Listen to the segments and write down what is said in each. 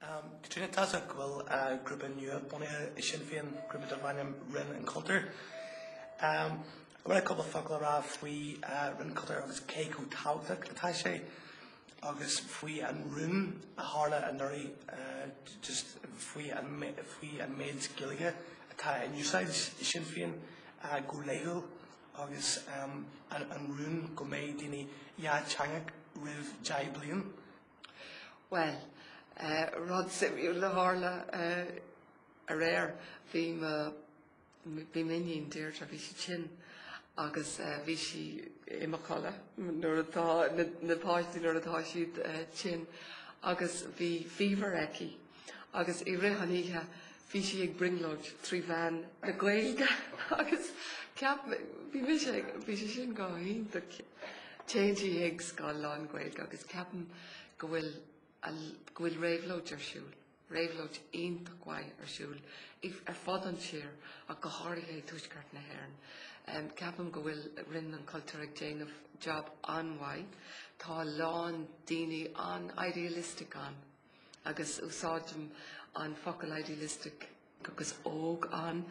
Am Caitríona tchí muid go bhfuil grúpa nua bunaithe i Sinn Féin, grúpa darb ainm Roinn an Chultúir. An bhfuil cúpla focal le rá faoi Roinn an Chultúir agus cé chomh tábhachtach atá sé agus faoi an rún a tharla anuraidh just faoi an méid Gaeilge atá in úsáid i Sinn Féin go laethúil agus an rún go mbeidh daoine dátheangach roimh deich bliain Bhuel, rud suimiúil a tharla aréir, bhí m'iníon Deirdre, bhí sí tinn agus bhí sí i mo chodladh nuair atá na páistí nuair atá siad tinn agus bhí fever aici agus i rith an oíche bhí sí ag brionglóid trí mheán na Gaeilge agus ceap mé, bhí mise ag, bhí sé sin go hiontach, téann sí ag scoil lán-Ghaeilge agus ceapaim go bhfuil a, go bhfuil réabhlóid ar siúl, réabhlóid iontach mhaith ar siúl i, ar fud an tír ach go háirithe i dTuaisceart na hÉireann. Em, ceapaim go bhfuil Roinn an Chultúir ag déanamh job an-mhaith, tá a lán daoine an-idealistic ann. agus úsáidim an focal idealistic agus óg ann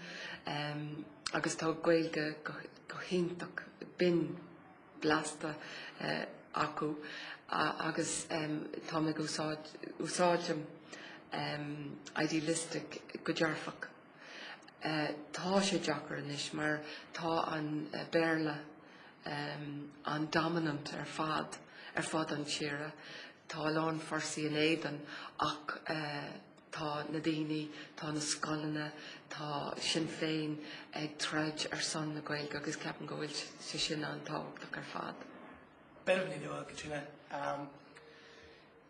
agus tá Gaeilge go hiontach binn blasta acu agus tá mé ag úsáidim idealistic go dearfach. Tá sé deacair anois mar tá an Béarla an-dominant ar fad ar fud an tíre. Tá a lán fórsaí in éadan ach tá na daoine, tá na scoileanna, tá Sinn Féin ag troid ar son na Gaeilge agus ceapaim go bhfuil sé sin an-tábhachtach ar fad. Beirimid bua Caitríona.